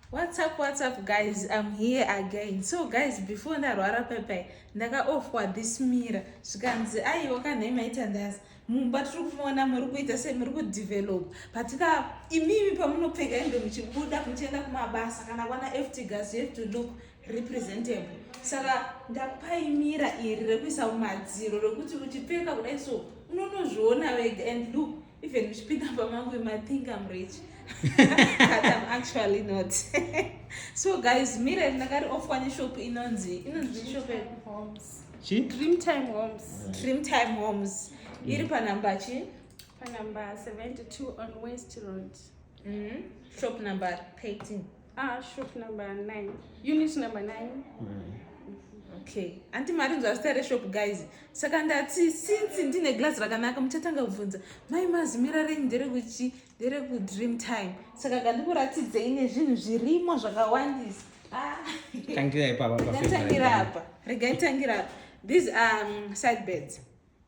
What's up, what's up guys, I'm here again. So guys, before ndarwara pepai ndakaofwa this mirror zvikanzi aiwa kanhai maita ndazi mumba tiri kuona muri kuita sei muri kudevelopa patika imimi pamunopfeka hembe muchibuda muchienda kumabasa kana kwana ft gas you have to look representable saka ndakupai mira iri rekuisa mumadziro rekuti uchipfeka kudai so unonozviona wega and look Even uchipinda pamangu you might think I'm rich. But I'm actually not. so guys, mira ndakari off one shop inonzi inonzi shop homes. Chi? Dream Time Homes. Dream Time Homes. Mm. Iri pa number chi? Pa number 72 on West Road. Mm -hmm. Shop number 13. Ah, shop number 9. Unit number 9. Mm. Okay. Anti mari nzwa zita reshop guys. Saka ndati since ndine glass rakanaka muchatanga kubvunza mai mazimira renyu nderekuchi nderekudream time. Saka kandikuratidzei nezvinhu zvirimo zvakawandisa. Ah. Tangira ipapa. Tangira apa. Rega tangira apa. These are um, side beds.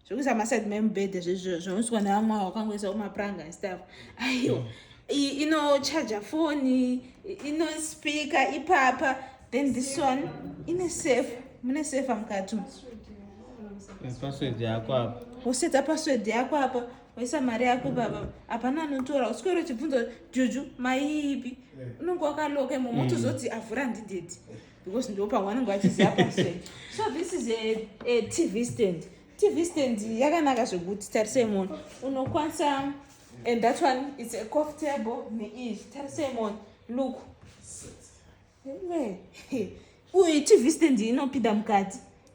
zvekuisa maside memubhedha zvinoiswa nevamwe wakangoisawo mapuranga stuff aiwa mm. inochaja foni inospika ipapa then this one ine safe mune safe mukati password yako apa wosetsa password yako apa waisa mari yako baba hapana anotora uswero uchibvunza juju maiipi eh. unonge wakaloka imomo mm. otozoti avhura ndidedi because ndo pawanenge vachiziva pase so this is a, a tv stand tv stand yakanaka zvekuti tarisei moni unokwanisa and that one its a cof table neiyi tarisei moni look uye tv stand inopinda mukati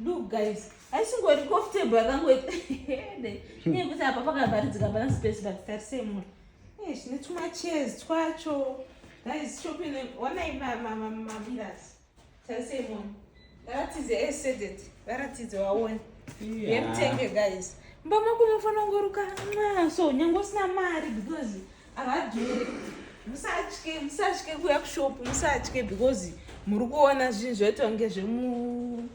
Look guys, haisingori comfortable yakangoita nyaya kuti apa pakavharidzika hapana space but tarise mwe eh, zvine tumachairs twacho guys shopping onai mamiras tarise mwe varatidze esedet eh, varatidze waone yemutenge guys mba mako munofanira kungoruka so nyange usina mari because havadhuri musatye musatye kuya kushopu musatye because muri kuona zvinhu zvaita kunge zvemu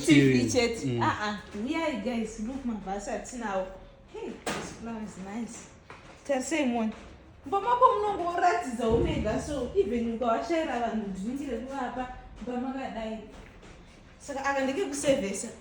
tv chete mm. aa ah, huyai ah, guys look mabhasi atinawo hey this flower is nice tarisei mona mumba mako munonge woratidza umega so even ukawashaira vanhu ndiningire kuvapa mumba makadai saka aka ndeke kusevhesa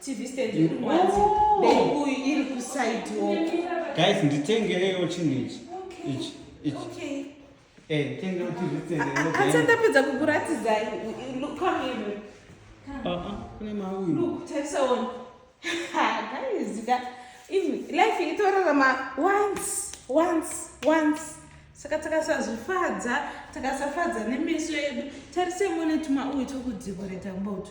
TV stand iri mwanzi. Bebuyi iri kuside woko. Guys, nditengerewo chinhu ichi. Ichi. Ichi. Okay. Eh, nditengerewo TV stand. Hanzi ndapedza kukuratidza. Look, come here. Ah, ah, kune mauyu. Look, tarisa one. Ha, guys, ka. Life itorarama once, once, once. Saka takasazvifadza, takasafadza nemeso edu. Tarisei mone tuma uyu tokudzikoreta mbotu.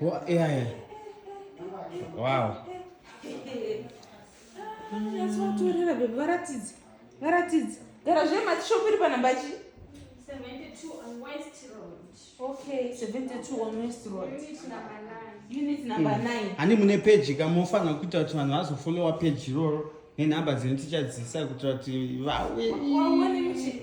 Wo- yeah, yeah. wow Nyatso watorera bebe varatidze. Varatidze. Gara zve mati shop iri panamba chi. 72 on West Road. Okay, 72 on West Road. Unit number 9. Unit number 9. ani mune peji ka mofanira kuita kuti vanhu vazofolowa peji iroro nenhamba dzino tichadzisa kuitira kuti vauye Waone muchi.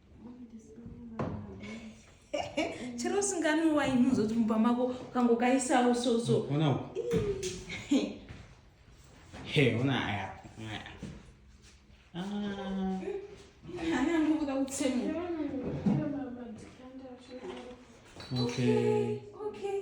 chero usinganwi waini uzoti mumba mako ukangokaisawo soso Hey, una haya. Ah. Hana ndokuda kutsemu. Okay. Okay.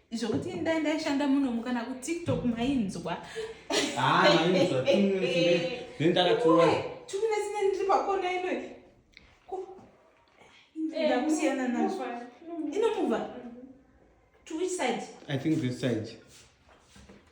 zvokuti ndai ndaishanda munomu kana kutiktok mainzwa ah, tuminetine ndiri pakona inoi eh, ndakusiyana nazvo inomuva to which side i think this side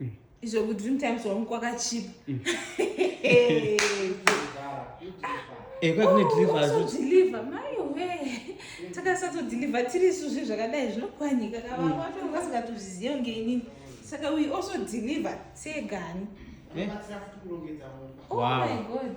mm. izvo kudream times wangu kwakachipa mm. eh, kwakudeliver maiwe takasatodeliver tiri isu zvi zvakadai zvinokwanika kavanga mm. vatanga vasingatozviziva ngeinini saka we also deliver seegani eh? oh my god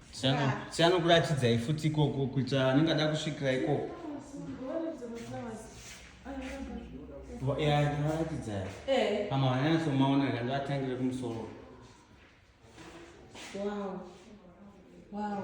sianokuratidzai futi ikoko kuita anenge ada kusvikira ikoko yaaratidzai eh. ama vanyanatsomaona kanga atangire kumusoro wow wow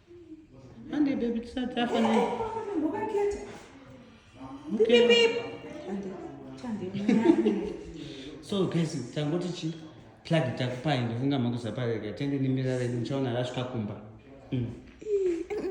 Hande baby tisati afa ne. Ngokakhetha. Pipi pipi. Hande. Thande. So guys, tangoti chi plug takupai ndofunga makuzapareka tende nimirare ndichaona rasvika kumba. Mm.